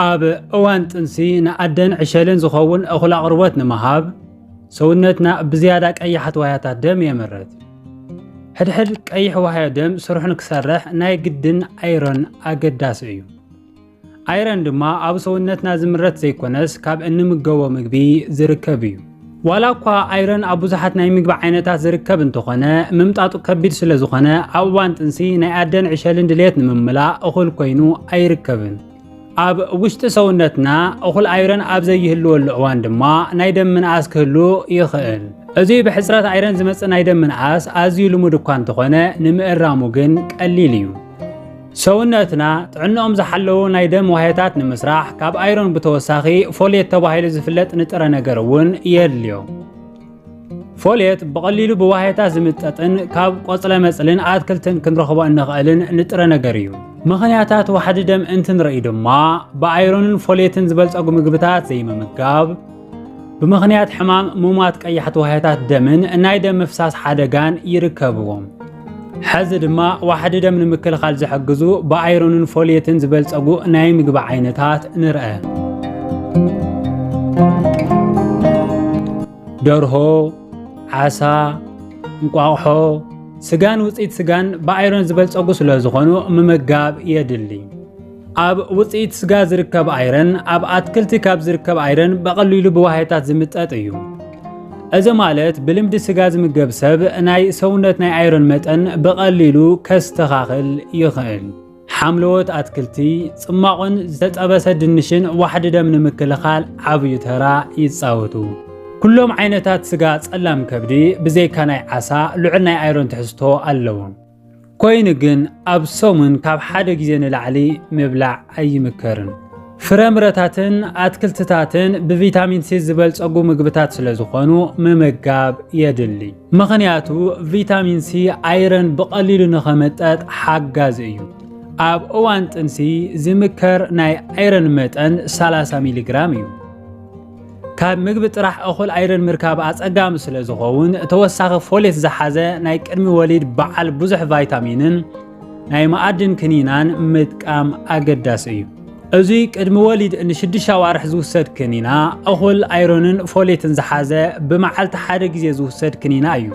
ኣብ እዋን ጥንሲ ንኣደን ዕሸልን ዝኸውን እኹል ኣቕርቦት ንምሃብ ሰውነትና ብዝያዳ ቀያሕቲ ዋህያታት ደም የምርት። ሕድሕድ ቀይሕ ዋህዮ ደም ስርሑ ንክሰርሕ ናይ ግድን ኣይሮን ኣገዳሲ እዩ። ኣይረን ድማ ኣብ ሰውነትና ዝምረት ዘይኮነስ ካብ እንምገቦ ምግቢ ዝርከብ እዩ። ዋላ እኳ ኣይረን ኣብ ብዙሓት ናይ ምግቢ ዓይነታት ዝርከብ እንተኾነ ምምጣጡ ከቢድ ስለ ዝኾነ ኣብ እዋን ጥንሲ ናይ ኣደን ዕሸልን ድሌት ንምምላእ እኹል ኮይኑ ኣይርከብን። ኣብ ውሽጢ ሰውነትና እኹል ኣይረን ኣብ ዘይህልወሉ እዋን ድማ ናይ ደም ምንኣስ ክህሉ ይኽእል። እዚ ብሕፅረት ኣይረን ዝመፅእ ናይ ደም ምንኣስ ኣዝዩ ልሙድ እኳ እንተኾነ ንምእራሙ ግን ቀሊል እዩ። ሰውነትና ጥዕንኦም ዝሓለዉ ናይ ደም ዋህያታት ንምስራሕ ካብ ኣይሮን ብተወሳኺ ፎሌት ተባሂሉ ዝፍለጥ ንጥረ ነገር እውን የድልዮ። ፎሌት ብቐሊሉ ብዋህያታት ዝምጠጥን ካብ ቆጽለ መጽልን ኣትክልትን ክንረኽቦ እንኽእልን ንጥረ ነገር እዩ። ምኽንያታት ዋሕዲ ደም እንትንርኢ ድማ ብኣይሮንን ፎሌትን ዝበልጸጉ ምግብታት ዘይምምጋብ፣ ብምኽንያት ሕማም ሙማት ቀያሕቲ ዋህያታት ደምን ናይ ደም ምፍሳስ ሓደጋን ይርከብዎም። ሕዚ ድማ ዋሕዲ ደም ንምክልኻል ዝሕግዙ ብኣይሮንን ፎልየትን ዝበልጸጉ ናይ ምግቢ ዓይነታት ንርአ። ደርሆ፣ ዓሳ፣ እንቋቑሖ፣ ስጋን ውፅኢት ስጋን ብኣይሮን ዝበልጸጉ ስለ ዝኾኑ ምምጋብ የድሊ። ኣብ ውፅኢት ስጋ ዝርከብ ኣይረን ኣብ ኣትክልቲ ካብ ዝርከብ ኣይረን በቐሊሉ ብዋህያታት ዝምጠጥ እዩ። እዚ ማለት ብልምዲ ስጋ ዝምገብ ሰብ ናይ ሰውነት ናይ ኣይረን መጠን ብቐሊሉ ከስተኻኽል ይኽእል። ሓምለዎት ኣትክልቲ፣ ጽማቑን ዝተጠበሰ ድንሽን ዋሕዲ ደም ንምክልኻል ዓብዩ ተራ ይጻወቱ። ኩሎም ዓይነታት ስጋ ጸላም ከብዲ ብዘይካ ናይ ዓሳ ልዑል ናይ ኣይረን ትሕዝቶ ኣለዎም። ኮይኑ ግን ኣብ ሰሙን ካብ ሓደ ግዜ ንላዕሊ ምብላዕ ኣይምከርን። ፍረምረታትን ኣትክልትታትን ብቪታሚን ሲ ዝበልጸጉ ምግብታት ስለ ዝኾኑ ምምጋብ የድሊ። ምኽንያቱ ቪታሚን ሲ ኣይረን ብቐሊሉ ንኸመጠጥ ሓጋዚ እዩ። ኣብ እዋን ጥንሲ ዝምከር ናይ ኣይረን መጠን 30 ሚሊግራም እዩ። ካብ ምግቢ ጥራሕ እኹል ኣይረን ምርካብ ኣጸጋሚ ስለ ዝኸውን ተወሳኺ ፎሌት ዝሓዘ ናይ ቅድሚ ወሊድ በዓል ብዙሕ ቫይታሚንን ናይ መኣድን ክኒናን ምጥቃም ኣገዳሲ እዩ እዚ ቅድሚ ወሊድ ንሽዱሽተ ኣዋርሕ ዝውሰድ ክኒና እኹል ኣይሮንን ፎሌትን ዝሓዘ ብመዓልቲ ሓደ ግዜ ዝውሰድ ክኒና እዩ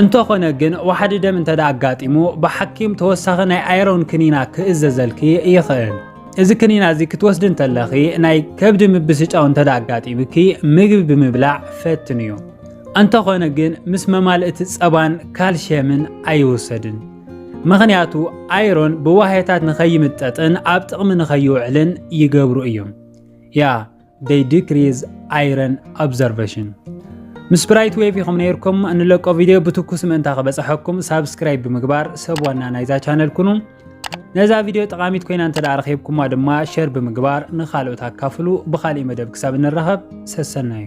እንተኾነ ግን ዋሕዲ ደም እንተ ኣጋጢሙ ብሓኪም ተወሳኺ ናይ ኣይሮን ክኒና ክእዘዘልኪ ይኽእል እዚ ክኒና እዚ ክትወስድ እንተለኺ ናይ ከብዲ ምብስጫው እንተ ኣጋጢምኪ ምግቢ ብምብላዕ ፈትንዮ። እንተኾነ ግን ምስ መማልእቲ ጸባን ካልሽየምን ኣይውሰድን። ምኽንያቱ ኣይሮን ብዋህያታት ንኸይምጠጥን ኣብ ጥቕሚ ንኸይውዕልን ይገብሩ እዮም። ያ they decrease iron observation ምስ ብራይት ዌቭ ኢኹም ነይርኩም እንለቆ ቪድዮ ብትኩስ ምእንታ ክበፅሐኩም ሳብስክራይብ ብምግባር ሰብ ዋና ናይዛ ቻነል ኩኑ ነዛ ቪድዮ ጠቓሚት ኮይና እንተ ረኺብኩማ ድማ ሸር ብምግባር ንካልኦት ኣካፍሉ ብካሊእ መደብ ክሳብ እንራኸብ ሰሰናዩ